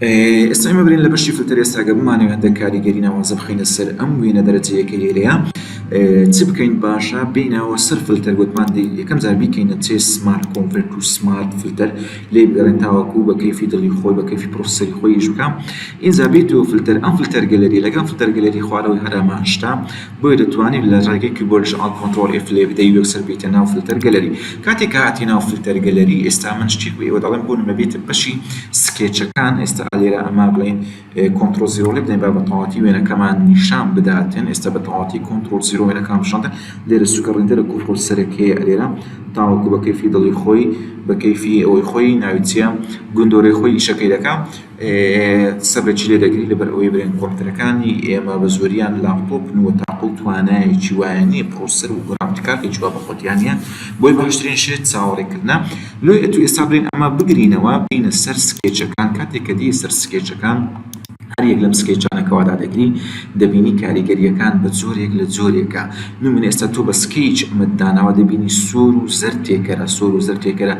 ئێستا ئێمە برێن لە بەشی فلتەر ئێستا گە بمانەوە هەندێک کاریگەری ناوازە بخینە سەر ئەم وێنە دەرەجەیەکە لێرەیە چ بکەین باشە بینەوە سەر فلتەر گوتمان دی یەکەم جار بیکەینە چێ سمارت کۆمپرت و سمارت فلتەر لێ بگەڕێن تاوەکو بە کەیفی دڵی خۆی بە کەفی پرۆسەری خۆیش بکەم ئینجا بیت و فلتەر ئەم فلتەر گەلەری لەگەم فلتەر گەلەری خوارەوەی هەرامان شتا بۆیە دەتوانیت لە ڕێگەی کیبۆردیش ئاڵت کۆنتڕۆڵ ئێف لێ بدەی و یەکسەر بێیتە ناو فلتەر گەلەری کاتێک کە هاتیە ناو فلتەر گەلەری ئێستا من شتێک بە ئێوە دەڵێم بۆ نمونە بێیتە بەشی سکێچەکان ئێستا ئالێرە ئەمە بڵێن کۆنتڕۆڵ زیرۆ لێ بدەین با بە تەواتی وێنەکەمان نیشان بداتن ئێستا بە تەواتی کۆنتڕۆڵ زیرۆ وێنەکان پیشاندا لێرە سوکە ڕیندەرە کۆنتڕۆڵ سەرەکیە ئەلێرە تاوەکو بە کەیفی دڵی خۆی بە کەیفی ئەوەی خۆی ناوی چیە گوندۆرەی خۆی ئیشەکەی دەکا قسە بە چی لێ دەگری لەبەر ئەوەی برێن کۆمپیوتەرەکانی ئێمە بە زۆریان لاپتۆپن و تاقە و توانایەکی وایان نییە پڕۆسەسەر و گڕافیک کارتێکی وا بە خۆتیان نییە بۆیە باشترین شێت چاوەڕێکردنە لۆیە ئەتوو ئێستا برێن ئەمە بگرینەوە بێینە سەر سکێچەکان کاتێک کە دێی سەر سکێچەکان هەر یەک لەم سکێچانە کە وادا دەگری دەبینی کاریگەرییەکان بە جۆرێک لە جۆرێکە نموونە ئێستا تۆ بە سکیچ ئەمەت داناوە دەبینی سوور و زەرد تێکەرە سوور و زەرد تێکەرە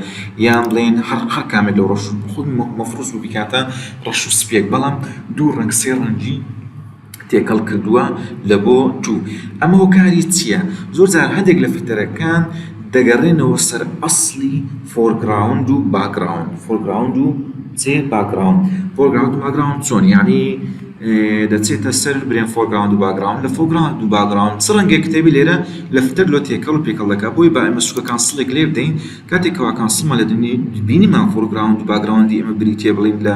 یان بڵێین هەر هەر کامێک لەو ڕەش خود مەفروس بوو بکاتە ڕەش و سپێک بەڵام دوو ڕەنگ سێ ڕەنگی تێکەڵ کردووە لە بۆ تو ئەمە هۆکاری چییە زۆر جار هەندێک لە فتەرەکان دەگەڕێنەوە سەر ئەسلی فۆرگراوند و باگراوند فۆرگراوند و چێ باگراوند فۆرگراوند و باگراوند چۆن یعنی دەچێتە سەر برێن فۆرگراوند و باگراوند لە فۆگراوند و باگراوند چ ڕەنگێک کتێبی لێرە لە فتەر لۆ تێکەڵ و پێکەڵەکە بۆی با ئەمە سوکەکان سڵێک لێ بدەین کاتێک کەواکان سڵمان لە دنی بینیمان فۆرگراوند و باگراوندی ئێمە بریتیە بڵێین لە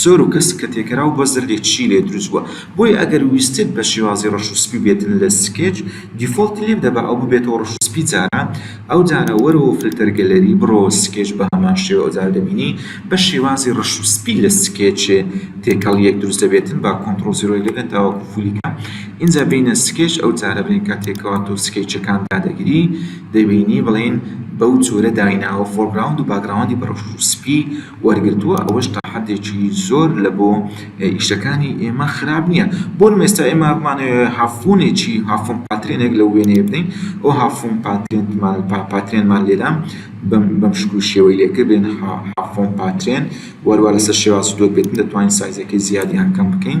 سۆر و کەسک کە تێکەرا و بە زەردی تشی لێ دروست بوە بۆیە ئەگەر ویستت بە شێوازی ڕەش و سپی بێتن لە سکێچ دیفۆڵتی لێ بدە با ئەو ببێتەوە ڕەش و سپی جارا ئەو جارە وەرەوە فلتەر گەلەری بڕۆوە سکێچ بە هەمان شێوە ئەو جارە دەبینی بە شێوازی ڕەش و سپی لە سکێچێ تێکەڵیەک دروست دەبێتن با کۆنتڕۆڵ زیرۆی لێ بێن تاوەکو فولی کە ئینجا بێینە سکێچ ئەو جارە بڵێین کاتێک کەوا تۆ سکێچەکان دادەگری دەبینی بڵێن بەو جۆرە دایناوە فۆرگراوند و باکگراوندی بە ڕەش و سپی وەرگرتووە ئەوەش تاحەدێکی زۆر لە بۆ ئیشەکانی ئێمە خراپ نییە بۆ نموونە ئێستا ئێمە بمانەوێ هافوونێکی هافوون پاترێنێک لەو وێنەیە بدەین ئەو هافوون پاترێنمان پاترێنمان لێدام بەم شکل و شێوەی لێکردێن هافوون پاترێن وەروە لەسەر شێواز و دۆت بێتن دەتوانین سایزەکەی زیاد یان کەم بکەین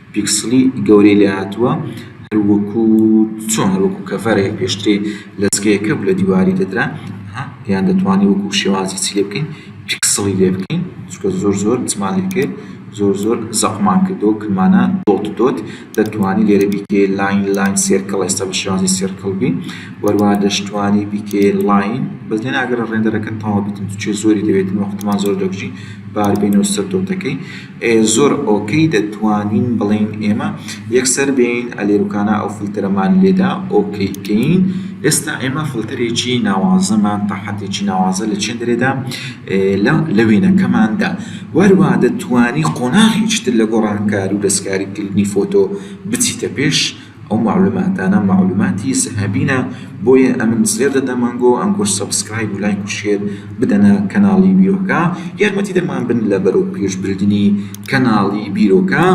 پیکسڵی گەورەی لێهاتووە هەروەکو چۆن هەروەکو کەڤەرێک پێشترێ لەزگەیەکە بوو لە دیواری دەدرا یان دەتوانین وەکو شێوازی چی لێ بکەین پیکسڵی لێ بکەین چونکە زۆر زۆر چمان لێ کرد زۆر زۆر زەقمان کردەوە کردمانە دۆت دۆت دەتوانی لێرە بیکەی لاین لاین سێرکڵ ئێستا بە شێوازی سێرکڵ بین وەروە دەشتوانی بیکەی لاین بەس لێ ناگەرە ڕێندەرەکە تەواو بێتن چێ زۆری دەوێتن وەختمان زۆر دەکوژی بار بینەوە سەر دۆتەکەی زۆر ئۆکەی دەتوانین بڵێین ئێمە یەکسەر بێین ئەلێروکانا ئەو فلتەرەمان لێدا ئۆکەی کەین ئێستا ئێمە فلتەرێکی ناوازەمان تاحەدێکی ناوازە لە چێندرێدا لە وێنەکەماندا وەروە دەتوانی قۆناغیشتر لە گۆڕانکار و دەستکاریکردنی فۆتۆ بچیتە پێش ئەو مەعلوماتانە مەعلوماتی زەهەبینە بۆیە ئەمن زێر دەدەم ئەنگۆ ئەنگۆش سەبسکرایب و لایک و شێر بدەنە کەناڵی بیرۆکە یارمەتی دەرمان بن لە بەرەو پێش بردنی کەناڵی بیرۆکە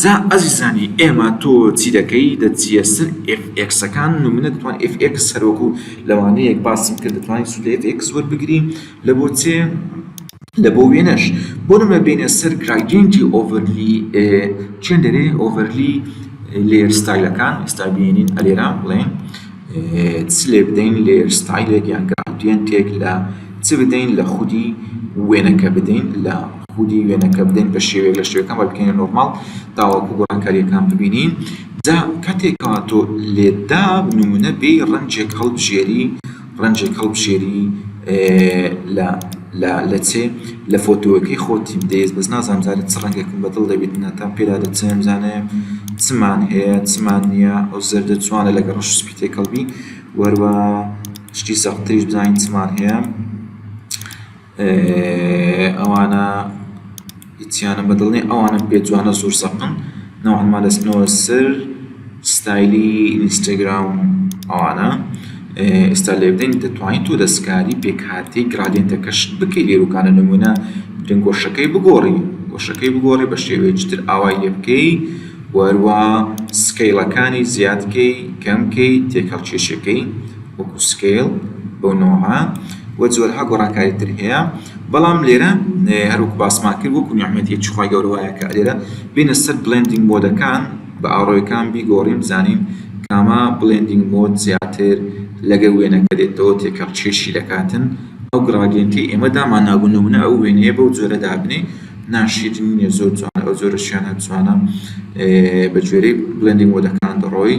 جا ئەزیزانی ئێمە تۆ چی دەکەی دەچیە سەر ئێف ئێکسەکان و منە دەتوان ئێف ئێکس هەرۆکو لەوانەیەک باسم کرد دەتوانین سودێت ئێکس وەربگرین لە بۆچێ لە بۆ وێنەش بۆ نمونە بێینە سەر گرایدینتی ئۆڤەرلی چێن دەرێ ئۆڤەرلی لێر ستایلەکان ئێستا بێنین ئەلێرا بڵێن چ لێ بدەین لێر ستایلێک یان گرایدینتێک لە چ بدەین لە خودی وێنەکە بدەین لە خودی وێنەکە بدەین بە شێوێک لە شتەکان بە بکەینە نۆرمال تاوەکو گۆڕانکاریەکان ببینین جا کاتێکەوە تۆ لێدا نمونە بێ ڕەنجێک هەڵبژێری ڕەنجێک هەڵبژێری لە لە لە چێ لە فۆتۆەکەی خۆتی بدەیت بەس نازانم زانە چ ڕەنگێکم بەدڵ دەبیت ناتان پێدا دەچێم زانێ چمان هەیە چمان نییە ئەو زەردە جوانە لەگە ڕەش سپی تێکەڵبی وەروە شتی سەختریش بزانین چمان هەیە ئێ ئەوانە هیچیانم بەدڵ نیە ئەوانەم پێ جوانە زۆر زەقن نەوعا ما دەچنەوە سەر ستایلی ئینستاگرام و ئەوانە ئێستا لێڤدەین دەتوانی تۆ دەسکاری پێکهاتەی گرادیەنتەکەش بکەی لێروکانە نمونە درنگ گۆشەکەی بگۆڕی گۆشەکەی بگۆڕی بە شێوەیەکی تر ئاوای لێ بکەی وەروە سکێڵەکانی زیاد کەی کەم کەی تێکەڵ کێشەکەی وەکو سکەیڵ بەو نەوعە و جۆرەها گۆڕانکاری تر هەیە بەڵام لێرە هەروەکو باسمان کرد وەکو نیعمەتی هیچ خوای گەورە وایە کە لێرە بینە سەر بلندینگ مۆدەکان بە ئاڕۆیەکان بیگۆڕین بزانین کامە بلندینگ مۆد زیاتر لەگەر وێنەکە دێتەوە تێکەڵ چێشی دەکاتن ئەو گڕاگێنتی ئێمە دامان نابوو نمونە ئەو وێنەیە بەو جۆرە دابنێ ناشیدن نیە زۆر جوانە ئەو جۆرە شوێنە جوانە بە گوێرەی بلندینگ مۆدەکان دەڕۆی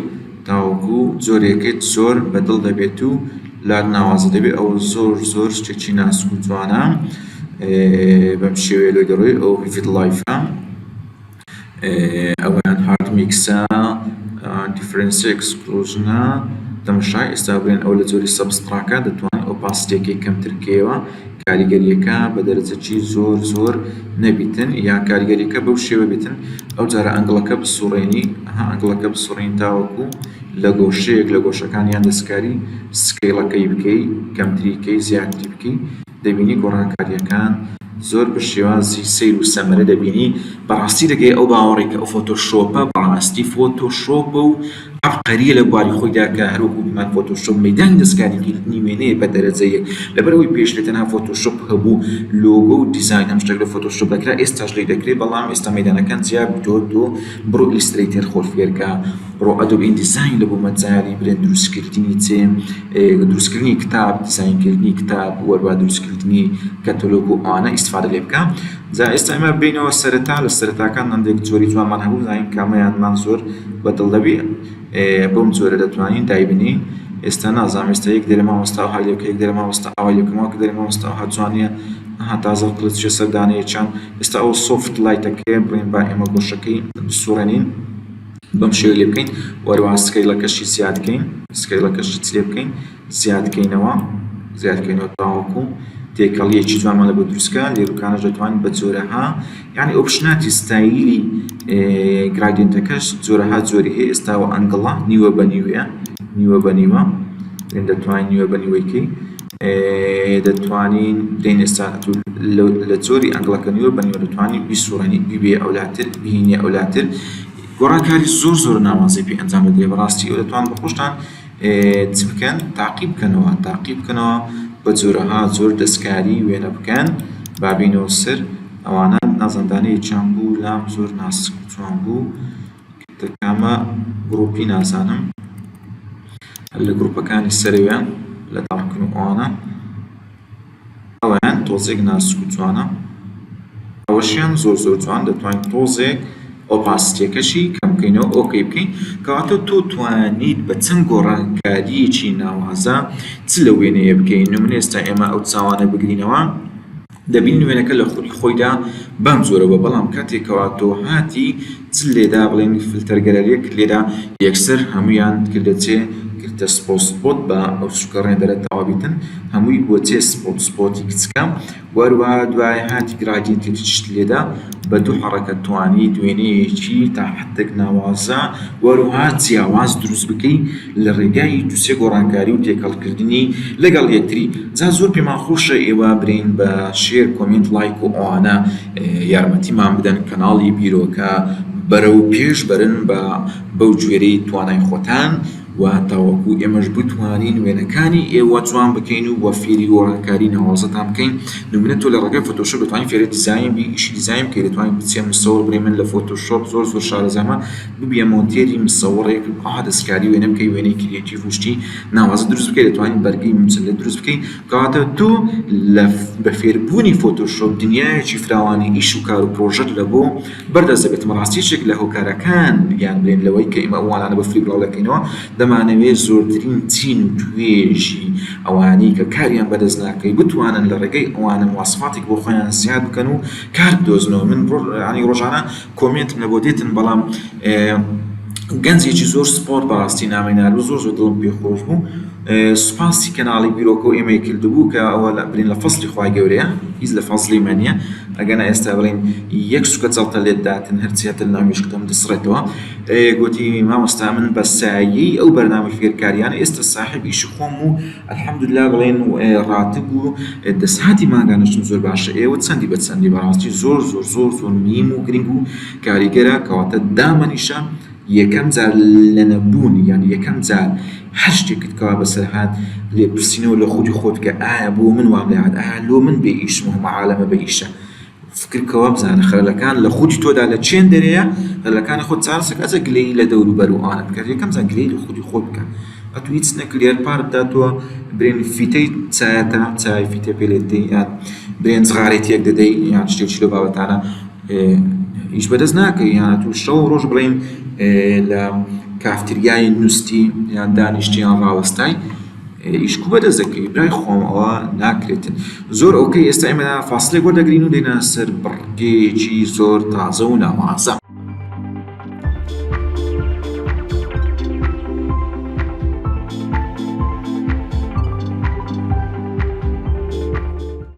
تاوەکو جۆرێکت زۆر بە دڵ دەبێت و لات ناوازە دەبێت ئەوە زۆر زۆر شتێکی ناسک و جوانە بەم شێوەیە لۆی دەڕۆی ئەو ڤیڤید لایفە ئەویان هارد میکسە دیفرنس ئەکسکلوژنە تەمەشای ئێستا بێن ئەو لە جۆری سەبستراکە دەتوان ئۆپاسیتێکی کەمتر کەیەوە کاریگەریەکە بە دەرەجەکی زۆر زۆر نەبیتن یان کاریگەریەکە بەو شێوە بیتن ئەو جارە ئەنگڵەکە بسوڕێنی ها ئەنگڵەکە بسوڕین تاوەکو لە گۆشەیەک لە گۆشەکان یان دەستکاری سکەیڵەکەی بکەی کەمتری کەی زیاتری بکەی دەبینی گۆڕانکاریەکان زۆر بە شێوازی سیر و سەمەرە دەبینی بەڕاستی دەگەی ئەو باوەڕی کە ئەو فۆتۆشۆپە بەڕاستی فۆتۆشۆپە و عەبقەرییە لە بواری خۆیدا کە هەر وەکو هیمان فۆتۆشۆپ مەیدانی دەستکاریکردنی وێنەیە بە دەرەجە یەک لەبەر ئەوەی پێشتر تەنها فۆتۆشۆپ هەبوو لۆگۆ و دیزاین هەم شتێک لە فۆتۆشۆپ دەکرا ئێستاش لێی دەکرێت بەڵام ئێستا مەیدانەکان جیا بتۆ تۆ بڕۆ ئیلسترەیتەر خۆت فێرکە بڕۆ ئەدۆب ئیندیزاین لە بۆ مەجالی برێن دروستکردنی چێ دروستکردنی کتاب دیزاینکردنی کتاب وەروا دروستکردنی کەتەلۆگ و ئانە ئیسفادە لێ بکە جا ئێستا ئێمە بێینەوە سەرەتا لە سەرەتاکان هەندێک جۆری جوانمان هەبوو بزانین کامەیانمان زۆر بە دڵ دەبێ بەم جۆرە دەتوانین دایبنێین ئێستا نازانم ئێستا یەک دەرێ مامۆستا ئەوها لێ بکە یەک دەرێ مامۆستا ئەوها لێ بکە ماوەکە دەرێ مامۆستا ئەوها جوان نییە ئەها تازە قلچە سەر دانەیە چەند ئێستا ئەو سۆفت لایتەکەیە بڵێن با ئێمە گۆشەکەی بسوڕێنین بەم شێوە لێ بکەین وەروان سکەیڵەکەشی زیاد بکەین سکەیڵەکەشی لێ بکەین زیادکەینەوە زیادکەینەوە تاوەکو تێکەڵیەکی جوانمان لەگەڵ دروستکە لێروکانەش دەتوانین بە جۆرەها یعنی ئۆپشناتی ستایلی گرادینتەکەش جۆرەها جۆری هەیە ئێستا و ئەنگڵە نیوە بە نیوەیە نیوە بە نیوە دەتوانین نیوە بە نیوەیکەی دەتوانین دەین ئێستا لە جۆری ئەنگڵەکە نیوە بە نیوە دەتوانین بیسوڕێنی بیبێ ئەولاتر بینێ ئەولاتر گۆڕانکاری زۆر زۆر ناوازەی پێ ئەنجام بدرێ بەڕاستی ئەو دەتوان بە خۆشتان چ بکەن تاقی بکەنەوە تاقی بکەنەوە بە جۆرەها زۆر دەستکاری وێنە بکەن بابینەوە سەر ئەوانە نازەندانەی چۆن بوو لام زۆر ناسک چۆن بوو کامە گرروپی نازانم لە گروپەکانی سەروێن لە تاقن ئەوانە ئەوەیان تۆزێک ناسک و جوانە ئەوەشیان زۆر زۆر جوان دەتوانین تۆزێک ئۆپاسیتیەکەشی کەم بکەینەوە ئۆکەی بکەین کەواتە تۆ توانیت بە چەند گۆڕانکاریەکی ناوازە چ لە وێنەیە بکەین نمونە ئێستا ئێمە ئەو چاوانە بگرینەوە دەبین وێنەکە لە خولی خۆیدا بەم جۆرە بە بەڵام کاتێکەوە تۆ هاتی چ لێدا بڵێن فلتەر گەلەرێک لێدا یەکسەر هەموویان کردە چێ کردە سپۆت سپۆت بە ئەو سوکە ڕێندەرە تەواو بیتن هەمووی بووە چێ سپۆت سپۆتی کچکە و هەروەها دوای هاتی گڕاگین کردی چشت لێدا بە دوو حەڕەکە توانیت وێنەیەکی تا حەدێک ناوازە و هەروەها جیاواز دروست بکەی لە ڕێگای دوو سێ گۆڕانکاری و تێکەڵ کردنی لەگەڵ یەکتری جا زۆر پێمان خۆشە ئێوە برێین بە شێر کۆمێنت ڵایک و ئەوانە یارمەتیمان بدەن کەناڵی بیرۆکە بەرەو پێش بەرن بە بەو گوێرەی توانای خۆتان و تاوەکو ئێمەش بتوانین وێنەکانی ئێوە جوان بکەین و وە فێری گۆرانکاری ناوازەتان بکەین نمونە تۆ لە ڕێگای فۆتۆشۆپ دەتوانی فێری دیزاین بی ئیشی دیزاین بکەی دەتوانی بچیە مستەوەڕ بڵێ من لە فۆتۆشۆپ زۆر زۆر شارەزامە ببیە مۆنتێری مستەوەڕێک ئەها دەسکاری وێنە بکەی وێنەی کریەتیڤ و شتی ناوازە دروست بکەی دەتوانی بەرگەی مجەلە دروست بکەی کاتە تۆ لە بە فێر بوونی فۆتۆشۆپ دنیایەکی فراوانی ئیش و کار و پرۆژەت لە بۆ بەر دەست دەبێت بەڕاستی یەکێک لە هۆکارەکان گیان برێن لەوەی کە ئێمە ئەوانانە بە فری بڵاو دەکەینەوە دەمانەوێت زۆرترین چین و توێژی ئەوانەی کە کاریان بە دەست ناکەوی بتوانن لە ڕێگەی ئەوانە مواسەفاتێک بۆ خۆیان زیاد بکەن و کار بدۆزنەوە من یانی ڕۆژانە کۆمێنتم لە بۆ دێتن بەڵام گەنجێکی زۆر سپۆرت بەڕاستی نامەی نارد و زۆر زۆر دڵم پێ خۆش بوو سوپاسی کەناڵی بیرۆکەو ئێمەی کردبوو کە ئەوە لە برین لە فەزڵی خوای گەورەیە هیچ لە فەزڵی مە نیە ئەگەنا ئێستا بڵێین یەک سوکە جەڵتە لێت داتن هەرچی هەتە لەناو مێشکتەم دەسڕێتەوە گۆتی مامۆستا من بە سایەی ئەو بەرنامەی فێرکاریانە ئێستا ساحێب ئیشی خۆم و الحمدللە بڵێن و ڕاتب و دەسهاتی مانگانەشم زۆر باشە ئێوە چەندی بە چەندی بەڕاستی زۆر زۆر زۆر زۆر میم و گرنگ و کاریگەرە کەواتە دامەنیشە یەکەم جار لە نەبوون یان یەکەم جار هەر شتێکت کەوا بەسەر هات لێپرسینەوە لە خودی خۆت کە ئایا بۆ من وام لێ هات ئایا لۆ من بێ ئیشم و هەموو عالەمە بە ئیشە فکر کەوە بزانە خەلەکان لە خودی تۆدا لە چێن دەرێیە خەلەکانی خۆت چارەسەر کە ئەجە گلەیی لە دەور و بەر و ئاڵت بکە یەکەم جار گلەیی لە خودی خۆت بکە ئەتوو هیچ نەکردی هەر پار بداتەوە برێن فیتەی چایەتە چای فیتە پێ لێ دەدەی یان برێن جغارێتیەک دەدەی یان شتێکی لەو بابەتانە ئیش بەدەست ناکەوی یان ئەتوو شەو ڕۆژ بڵین لە کافتریای نووستی یان دانیشتیان ڕاوەستای ئیشکو بەدەست دەکەی برای خۆم ئەوە ناکرێت زۆر ئەوکەی ئێستا ئێمە فاصلێک بۆ دەگرین و دێنە سەر بڕگێکی زۆر تازە و ناوازە